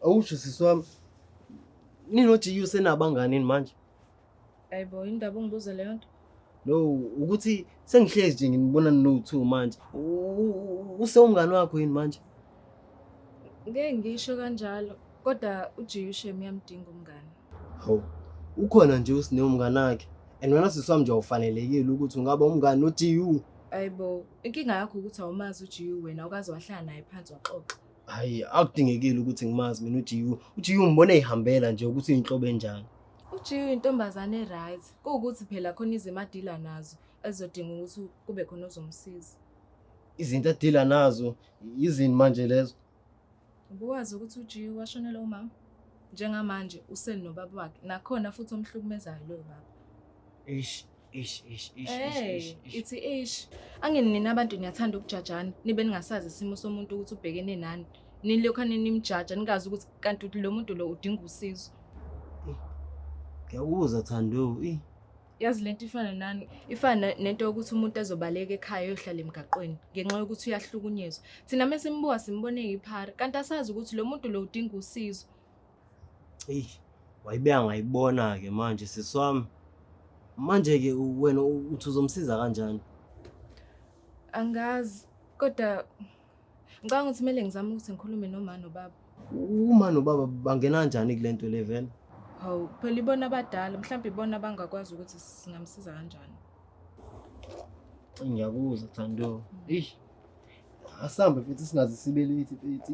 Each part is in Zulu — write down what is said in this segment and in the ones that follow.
Awusho sisi wami. Ninothi usenabangani manje? Ayibo indaba ungibuze leyo nto. No, ukuthi sengihlezi nje nginibona ninowu-two manje. Usewumngani wakho yini manje? Ngeke ngisho kanjalo kodwa uJiyushem uyamdinga umngani. Hawu, ukhona nje uSne umngani wakhe and wena sisi wami nje awufanelekile ukuthi ungaba umngani noJiyu. Ayibo, inkinga yakho ukuthi awumazi uJiyu wena awukaze wahlala naye phansi waxoxa. Hayi, akudingekile ukuthi ngimazi mina uJiwu. UJiwu ngibona eyihambela nje ukuthi uyinhlobo enjani. UJiwu uyintombazane e-right. Kuwukuthi phela khona izimo adila nazo ezizodinga ukuthi kube khona ozomsiza. Izinto adila nazo yizini manje lezo. Ubuwazi ukuthi uJiwu washonela umama? Njengamanje useli nobaba wakhe nakhona futhi omhlukumezayo loyo baba. Eish, Ish ish ish ish Eh, ish. ish. ithi ish. Angeni nina abantu niyathanda ukujajana, nibe ningasazi isimo somuntu ukuthi ubhekene nani. Nilokho nimjaja ningazi ukuthi kanti uthi lo muntu lo udinga usizo. Ngiyakuzwa Thando. Eh. Yazi lento ifana nani? Ifana nento yokuthi umuntu azobaleka ekhaya yohlala emgaqweni ngenxa yokuthi uyahlukunyezwa. Thina mesimbuka simbone yiphara, kanti asazi ukuthi lo muntu lo udinga usizo. eyi wayibe angayibona-ke manje sisi wami manje-ke wena uthi uzomsiza kanjani angazi kodwa ngicabanga ukuthi kumele ngizame ukuthi ngikhulume noma nobaba uma nobaba bangena kanjani kule nto le vele hawu phela ibona abadala mhlawumbe ibona abangakwazi ukuthi singamsiza kanjani ngiyakuza thando eyi asihambe futhi singaze sibe late futhi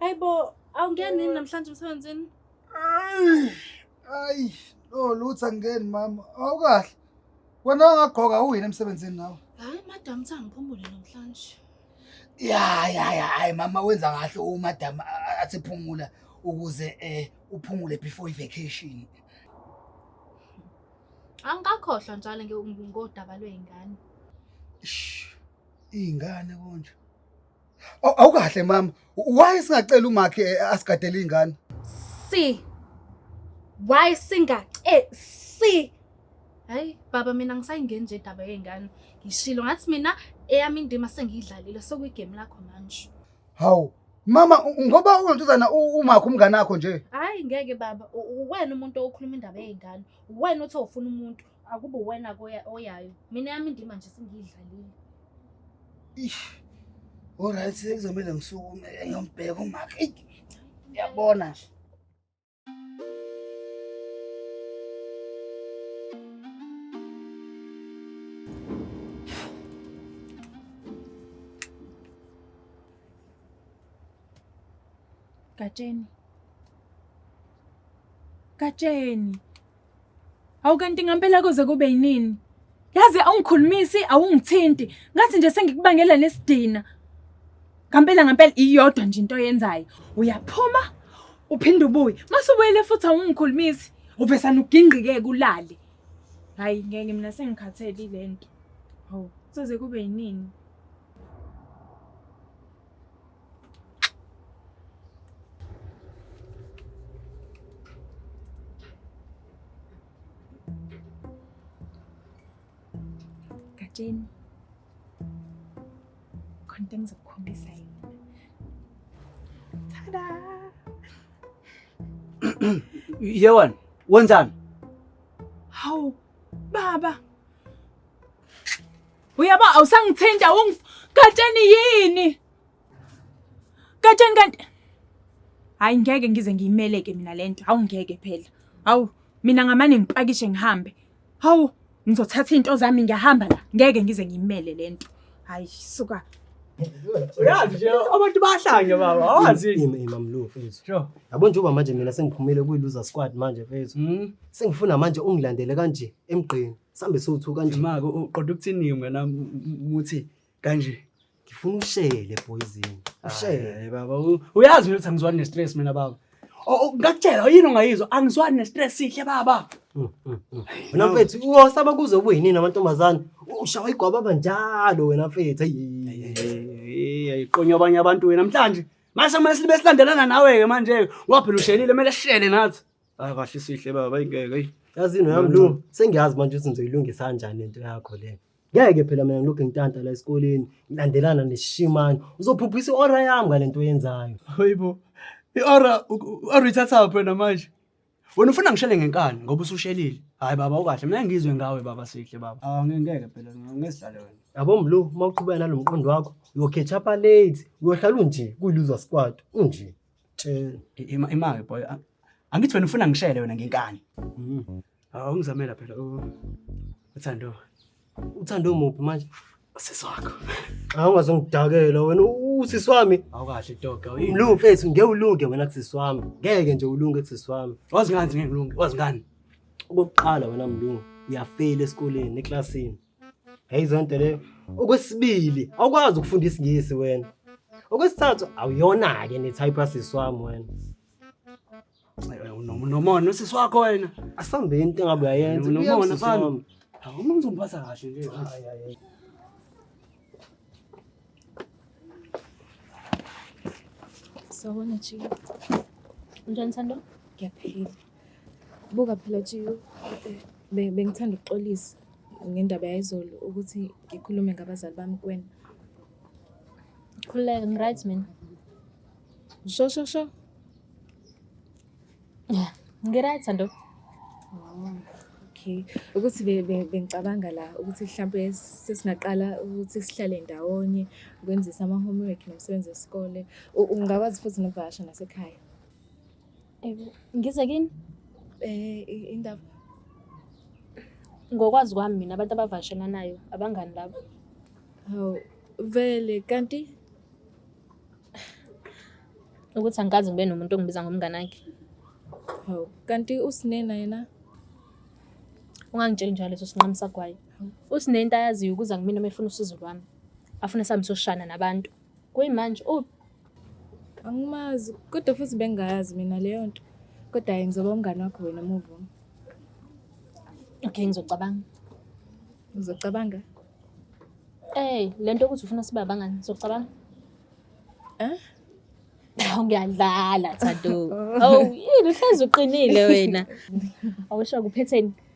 Hayi bo, awungeni yini namhlanje emsebenzini? Ayi, no lutho angeni mama. Awukahle. Wena ongagqoka uyini emsebenzini nawe? Hayi madam uthi angiphumule namhlanje. Ya ya ya, hayi mama wenza kahle umadam athi phumula ukuze eh uphumule before i-vacation. Angikakhohlwa njalo ngodaba lwey'ngane. Iy'ngane konje. Aw- Awukahle mama. Why singacela umakhe eh, asigadele ingane? si why singace si hayi baba mina ngisayingeni nje indaba yey'ngane ngishilo ngathi mina eyami indima sengiyidlalile sekuyigemu lakho manje Hawu. Mama u- ngoba unontuzana u- umakhe umngane wakho nje. hhayi ngeke baba u- uwena umuntu okhuluma indaba yey'ngane uwena othi awufuna umuntu Akubo wena koya oyayo. Mina yami ndima nje singidlalile. Ish. Alright, sekuzomela ngisukume ngiyombheka umakhe. Eyi, Uyabona nje. Gatsheni. Gatsheni. Awu kanti ngampela koze kube yinini? Yazi awungikhulumisi, awungithinti. Ngathi nje sengikubangela nesidina. Ngampela ngampela iyodwa nje into oyenzayo. Uyaphuma uphinde ubuye. Mase ubuyele futhi awungikhulumisi. Uvesana ugingqike kulale. Hayi ngeke mina sengikhathele lento. Hawu, soze kube yinini? Gatsheni. Khona into engizokukhombisa yona. Tada! Yewan, wenzani? Hawu, baba. Uyabo awusangithinta ungif Gatsheni yini? Katsheni kanti hayi ngeke ngize ngiyimeleke mina lento. Hawu ngeke phela. Hawu mina ngamane ngipakishe ngihambe. Hawu ngizothatha into zami ngiyahamba la. Ngeke ngize ngiyimele lento. Hayi suka. Uyazi nje abantu bahlanye baba. Awazi yini imamlu mfethu. Sure. Yabo njengoba manje mina sengiphumile kwi loser squad manje mfethu. Mhm. Sengifuna manje ungilandele kanje emgqeni. Sambe sothu kanje. Mako uqoda ukuthini wena muthi kanje ngifuna ushele poison ushele baba u- uyazi mina ukuthi angizwani ne-stress mina baba O- o- ngakutshela yini ongayizwa angizwani ne-stress sihle baba Mm, mm, mm. wena mfethu uyosaba kuze ube yinini amantombazane ushawa igwababa njalo wena mfethu ayi ayiqonywa abanye abantu wena mhlanje mase kumele sibe silandelana nawe-ke manje-ke ngoba phela ushelile kumele sishele nathi hayi kahle sihle baba ingeke ayi yazini wami lu sengiyazi manje ukuthi ngizoyilungisa kanjani lento yakho le ngeke phela mina ngilokhu ngitanta la esikoleni ngilandelana nesishimane uzophuphisa i-ora yami ngale nto oyenzayo hayibo i-ora i-ora ithathaphi wena manje wena ufuna ngishele ngenkani ngoba usushelile hhayi baba ukahle mina ngizwe ngawe baba sihle baba awu ngeke phela ngesidlale wena yabo mlu uma uqhubeka nalo mqondo wakho uyokhetha palate uyohlala unje kuyiluza sikwati unje Tshela. Ima imake boy. a- Angithi wena ufuna ngishele wena ngenkani. Mm. Awungizamela phela u- uthando. Uthando muphi manje? Sisi wakho. Xa ungazongidakela wena usisi wami. Awukahle dog. awuyini. Mlungu mfethu ngeke ulunge wena kusisi wami. Ngeke nje ulunge kusisi wami. Wazi ngani ngeke ulunge. Wazi ngani? Okokuqala wena mlungu uyafeyila esikoleni eklasini. Hey zonto leyo. Okwesibili, awukwazi ukufunda isingisi wena. Okwesithathu, awuyona ke ne type asisi wami wena. Unomona usisi wakho wena. Asambe into engabe uyayenza. Unomona fana. Awuma ngizomphatha kahle nje. Hayi hayi. Sawona Chika. Unjani Thando? Ngiyaphila. Buka phela Jiyo, be- bengithanda ukuxolisa ngendaba yayizolo ukuthi ngikhulume ngabazali bami kuwena. Khululeka, ngi-right mina. Sho sho sho. Yeah, ngi-right Thando. Oh, okay. Ukuthi be- be- bengicabanga la ukuthi mhlampe sesingaqala ukuthi sihlale ndawonye ukwenzisa ama-homework nomsebenzi wesikole. U- Ungakwazi futhi nokuvakasha nasekhaya. Ngize kini? Eh indaba. Ngokwazi kwami mina abantu abavashelanayo abangani labo. Hawu vele kanti ukuthi angikaze ngibe nomuntu ongibiza ngomngane wakhe. Hawu kanti usinena yena? Ungangitsheli njalo leso sinqamu sagwayi. Usinento ayaziyo ukuza kumina uma efuna usizo lwami. Afune sami soshana nabantu. Kuyimanje uphi? Angimazi kodwa futhi bengayazi mina leyo nto. Kodwa yena ngizoba umngane wakho wena move on. Okay ngizocabanga. Uzocabanga? Eh, le nto ukuthi ufuna sibe abangani, uzocabanga? Eh? Hawu ngiyadlala Thando. Oh. Hawu yini uhlezi uqinile wena. Awusho kuphetheni?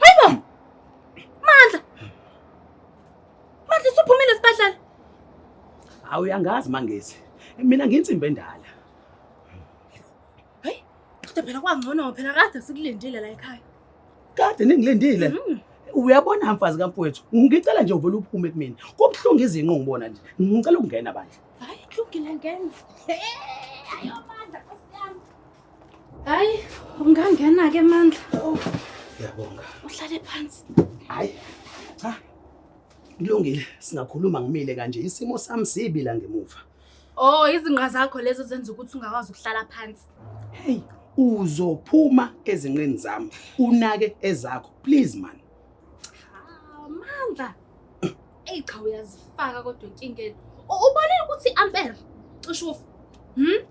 Hayibo! Mandla! Mandla usuphumile esibhedlela. Hawu uyangazi mangezi. Mina nginsimbe endala. Hayi, kodwa phela kwangcono phela kade sikulindile la ekhaya. Kade ningilindile. Mhm. Uyabona mfazi kamfowethu, ngicela nje uvele uphume kumina. Kubuhlungu izinqo ngibona nje. Ngicela ukungena bandla. Hayi, kulungile ngena. Hey, ayomandla Nkosi yami. hayi ungangena-ke mandla ngiyabonga uhlale phansi hayi cha kulungile singakhuluma ngimile kanje isimo sami sibi la ngemuva oh izinqa zakho lezo zenza ukuthi ungakwazi ukuhlala phansi heyi uzophuma ezinqeni zami unake ezakho please man ah, mandla Eyi cha uyazifaka kodwa enkingeni. U- Ubonile ukuthi i-ampere cishe ufa. Hmm?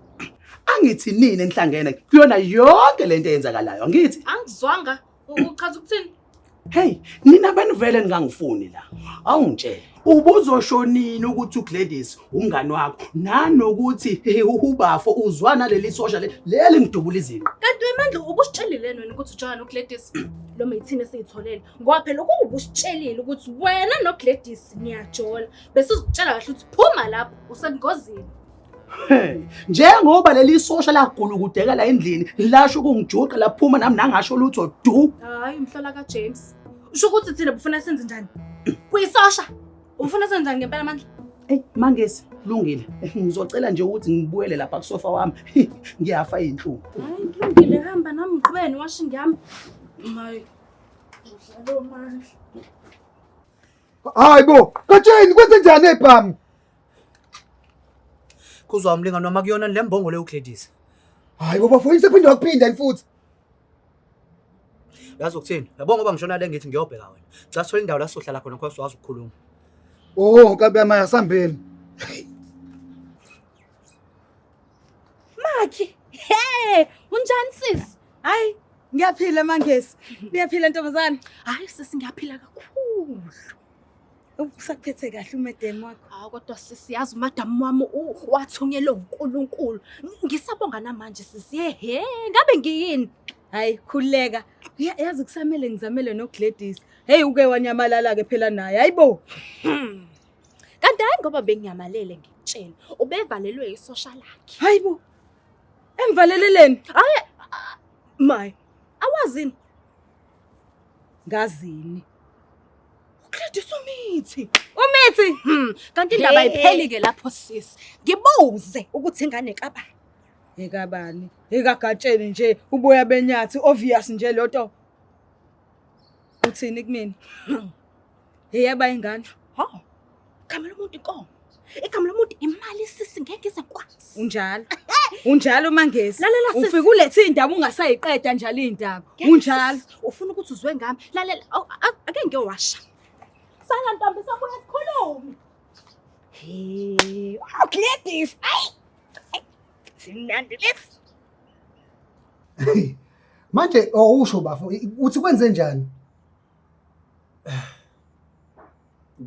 angithi nini enihlangene kuyona yonke lento eyenzakalayo angithi Angizwanga. U- Uchaza ukuthini? hey nina abantu vele ningangifuni la awungitshela ubuzoshonini ukuthi ugladys umngani wakho nanokuthi he, ubafo uzwa naleli sosha le- leli ngidubula izinqa Kanti wemandla ubusitshelile nini ukuthi uJohn uGladys? Lo methini esiyitholele. ngoba phela ukuba ubusitshelile ukuthi wena nogladys niyajola bese uzitshela kahle ukuthi phuma lapho usengozini njengoba leli sosha lagula ukudeka la endlini lasho ukungijuqa laphuma nami nangasho lutho du hayi umhlola kajames usho ukuthi thina bufuna senze njani kuyisosha ufuna senze njani ngempela amandla eyi mangesi kulungile ngizocela nje ukuthi ngibuyele lapha kusofa wami ngiyafa yinhlungu hayi kulungile hamba nami ngiqhubeni washo ngiyami mayi hayi bo katsheni kwenze njani ebhami kuzwa umlingani wami akuyona le mbongo leyo ugladys hayi bo bafo isephinde wakuphinda yini futhi yazi ukuthini yabo ngoba ngishona le ngithi ngiyobheka wena cha sithola indawo la sizohlala khona khosi wazi ukukhuluma o nkabi yami asambeni Makhi. Hey, unjani sis? Hayi, ngiyaphila mangesi. Uyaphila ntombazane? Hayi sis ngiyaphila kakhulu. Usaphethe kahle umadam wakho. Hawu kodwa sisi yazi umadam wami wathunyelwe uNkulunkulu. Ngisabonga namanje sisi. He, ngabe ngiyini? Hayi khuleka. Yazi kusamele ngizamele noGladys. Hey uke wanyamalala ke phela naye. Hayibo. Hmm. kanti hayi ngoba bengiyamalele ngikutshela ubevalelwe isosha lakhe hayi bo emvaleleleni hayi my awazini ngazini Gladys umithi. Umithi. Hmm. Kanti indaba ipheli ke lapho sis. Ngibuze ukuthi ingane kabani. Ekabani. Ekagatsheni nje uboya benyathi obvious nje loto. Uthini kumina? Yeyaba ingane. Ha. Igama lomuntu inkomo. Igama lomuntu imali sisi ngeke ize kwasi. Unjalo. Unjalo uMangezi. Lalela sisi. Ufika ulethe indaba ungasayiqeda njalo indaba. Unjalo. Ufuna ukuthi uzwe ngami. Lalela oh, ake ngeke washa. Sala ntombi sobuya sikhulume. Hey, wow, Gladys. Ay. Simnandi lesi. manje awusho oh, bafo uthi kwenze njani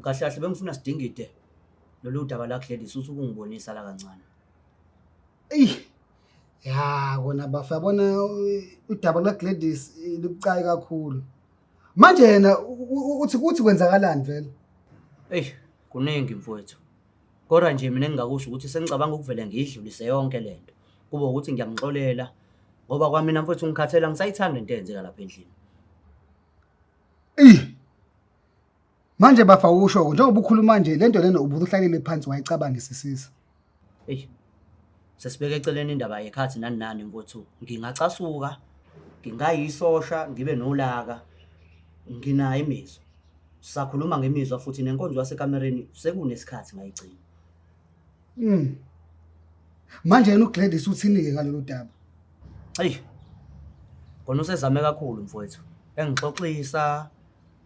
kahle kahle bengifuna sidingide lolu daba la Gladys uthi ukungibonisa la kancane eyi ya kona bafo yabona udaba la Gladys libucayi kakhulu manje yena uthi kuthi kwenzakalani vele eyi kuningi mfowethu Kodwa nje mina engingakusho ukuthi sengicabanga ukuvele ngiyidlulise yonke le nto kube ukuthi ngiyamxolela ngoba kwamina mfowethu ngikhathele angisayithandi le nto eyenzeka lapha endlini Ih. Manje bafa usho njengoba ukhuluma nje lento lena ubuhlalele phansi wayicabangisisisa. eyi sesibeke eceleni indaba yekhathi nani nani mfowethu ngingacasuka ngingayisosha ngibe nolaka nginayo imizwa sisakhuluma ngemizwa futhi nenkonzo yasekamereni sekunesikhathi ngayigcina mm manje yena uGladys uthini ke ngalolu daba hey kona usezame kakhulu mfowethu engixoxisa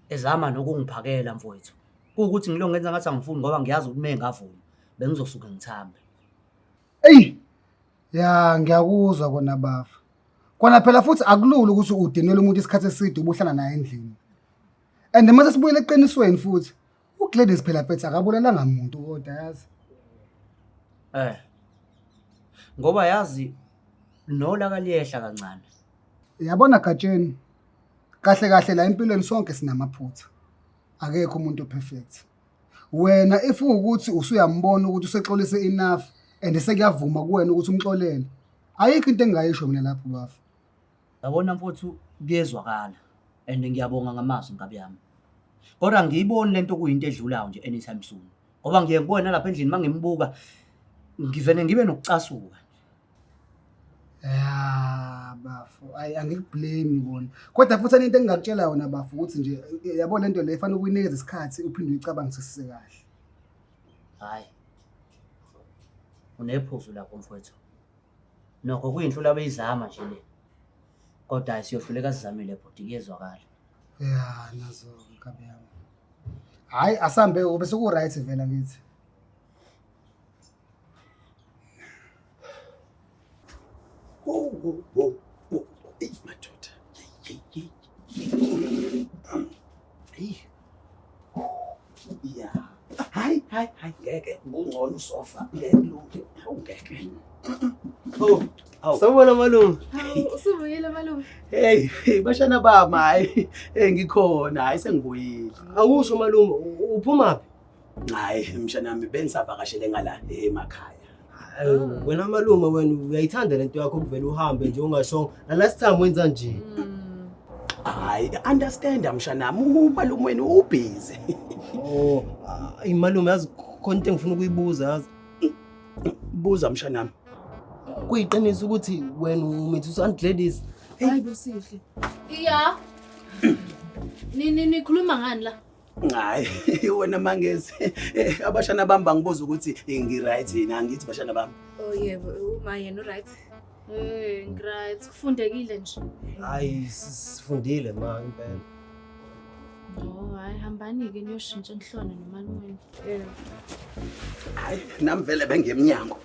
ezama nokungiphakela mfowethu kuwukuthi ngilongenza ngathi angifuni ngoba ngiyazi ukuthi mengavuma bengizosuke ngithambe eyi ya ngiyakuzwa kona bafa kona phela futhi akulula ukuthi udinele umuntu isikhathi eside ubuhlala naye endlini and mase sibuyele eqinisweni futhi ugladys phela phethe akabulalanga muntu kodwa yazi eh ngoba yazi nola kaliyehla kancane yabona gatsheni kahle kahle la empilweni sonke sinamaphutha akekho umuntu perfect Wena if ukuthi usuyambona ukuthi usexolise enough and sekuyavuma kuwena ukuthi umxolele. Ayikho into engingayisho mina lapho bafo. Yabona mfowethu kuyezwakala and ngiyabonga ngamazwi nkabi yami. Kodwa ngiyiboni lento kuyinto edlulayo nje anytime soon. Ngoba ngiye ngibone lapha endlini mangimbuka ngivele ngibe nokucasuka. ya bafo ayi angikublame kona kodwa futhi anento engingakutshela yona bafo ukuthi nje eh, yabo le nto le fanele ukuyinikeza isikhathi uphinde uyicabangisise kahle hayi unephuzu lapho mfowethu nokho kuyinto labeyizama nje le kodwa hayi siyohluleka sizamile bhuti kuyezwakala ya nazo nkabi yami hayi asambe ube seku-right vela ngithi sofa ngeke awungeke oh sawubona malume usubuyile malume hey bashana bami hayi hey ngikhona hayi sengibuyile awusho malume uphumaphi Hayi mshanami bengisavakashele ngala emakhaya. Awu, Wena malume wena uyayithanda lento yakho ukuvela uhambe nje ungashongo. Na last time wenza nje. Hayi understand mshanami umalume wenu ubhizi. Oh, ayi malume yazi khona into engifuna ukuyibuza yazi. Buza mshanami. Kuyiqiniso ukuthi wena umithi usanti ladies. Hayi bosihle. Iya. Ni ni nikhuluma ngani la? Hayi wena mangezi eh, abashana bami bangibuza ukuthi eh, ngiright yini angithi bashana bami. Oh yebo uma yena uright. Eh ngiright kufundekile nje. Hayi sifundile ma impela. Oh hayi hambani ke niyoshintsha enhlone nomalume. Eh. Hayi nami vele bengemnyango.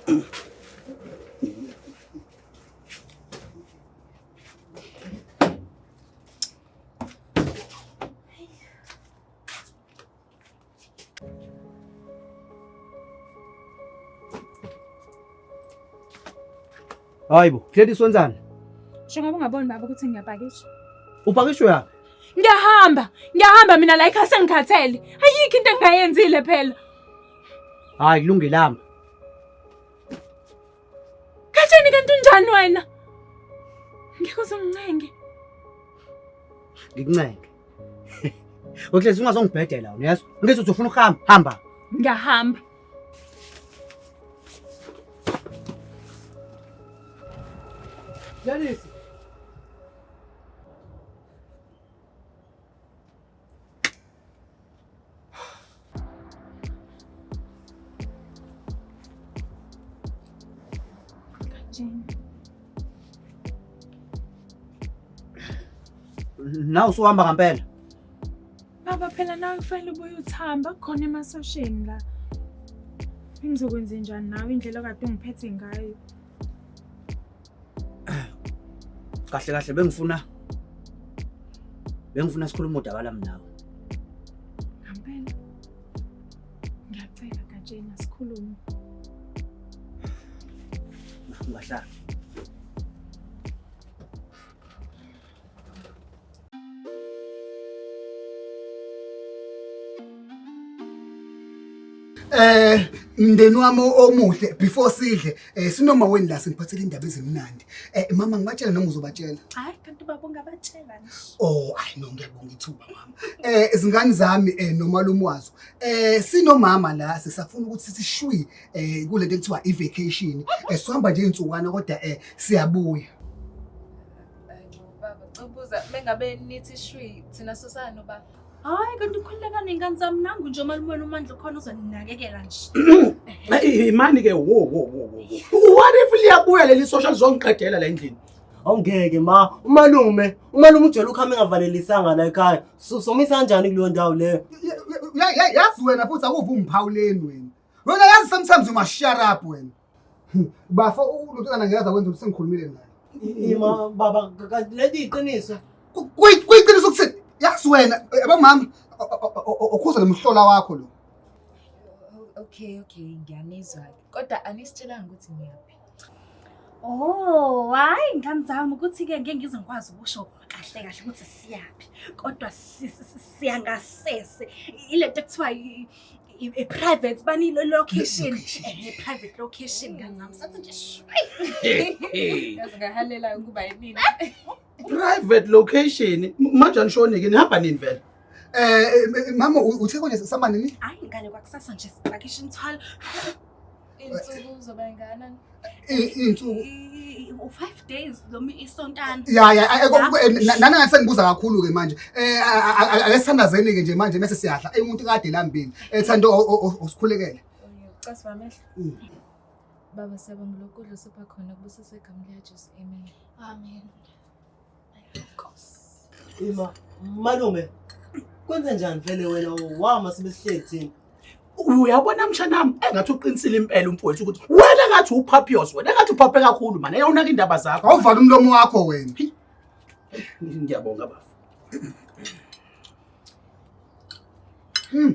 Hayi bo, Gladys wenzani? Njengoba ungaboni baba ukuthi ngiyapakisha. Upakishwe yaphi? Ngiyahamba, ngiyahamba mina la ikhaya sengikhathele. Ayikho into engingayenzile phela. Hayi kulungile hamba. Katheni kanti unjani wena? Ngeke uzongincenge. Ngikuncenge. Uklezi ungazongibhedela wena, yazi? Ngithi uthi ufuna ukuhamba, hamba. Ngiyahamba. Janice. na usuhamba ngampela baba phela nawe kufanele ubuye uthamba khona emasosheni la ngizokwenze njani nawe indlela kade ungiphethe ngayo kahle kahle bengifuna bengifuna sikhuluma udaba lami nawe ngampela ngiyacela gatsheni asikhulume ungahlala eh mndeni wami omuhle before sidle eh sinoma weni la sengiphathele indaba ezimnandi eh mama ngibatshela noma uzobatshela hayi kanti baba ungabatshela oh hayi no ngiyabonga ithuba mama eh izingane zami eh nomalume wazo eh sinomama la sisafuna ukuthi sishwi eh kulento ekuthiwa i vacation eh sihamba nje insukwana kodwa eh siyabuya Baba, cubuza mengabe nithi shwi thina sosana nobaba. Hayi kanti ukhululeka nengane zami nangu nje umalume uMandla ukhona uzoninakekela nje. Hey imani ke wo wo wo wo. What if liyabuya leli social zongiqedela la endlini? Awungeke ma, umalume, umalume ujwayele ukuhamba engavalelisanga la ekhaya. So- Somisa kanjani kuleyo ndawo leyo? Ya- ya- yazi wena futhi akuve ungiphawuleni wena wena yazi sometimes uma shut up wena Bafo ulontwana ngeke aza kwenza ukuthi sengikhulumile naye. Ima baba kanti lento iqiniso. Kuyiqiniso ukuthi yazi wena abamama ukhuza lomhlola wakho lo. Okay okay ngiyanizwa kodwa anisitshelanga ukuthi ngiyaphi. Oh, hayi ngani zami ukuthi ke ngeke ngize ngikwazi ukusho kahle kahle ukuthi siyaphi kodwa siyangasese ilento ekuthiwa i-private bani location i-private eh, location kancane sathi nje ngahalela ukuba yini private location manje anishone ke nihamba nini vele eh mama uthe kone sisama nini hayi ngane kwakusasa nje sipakisha imthwalo Iy'nsuku zobengana. Iy'nsuku. U-five days noma isontana. Ya ya nana ngase ngibuza kakhulu-ke manje. Eh ake sithandazeni-ke nje manje mese siyadla. Eyi umuntu kade lambile. Ethanda osikhulekele. Casi bamehlo. Mm. Baba siyabonga lokudla osipha khona kubusisa igama likaJesu. Amen. Amen. Ima, malume, kwenze njani vele wena wama sebesihleli thina? uyabona mshanami engathi uqinisile impela umfowethu ukuthi wena ngathi uphapios wena ngathi uphaphe kakhulu mane yawunaka indaba zakho awuvala umlomo wakho wena ngiyabonga bafo hmm.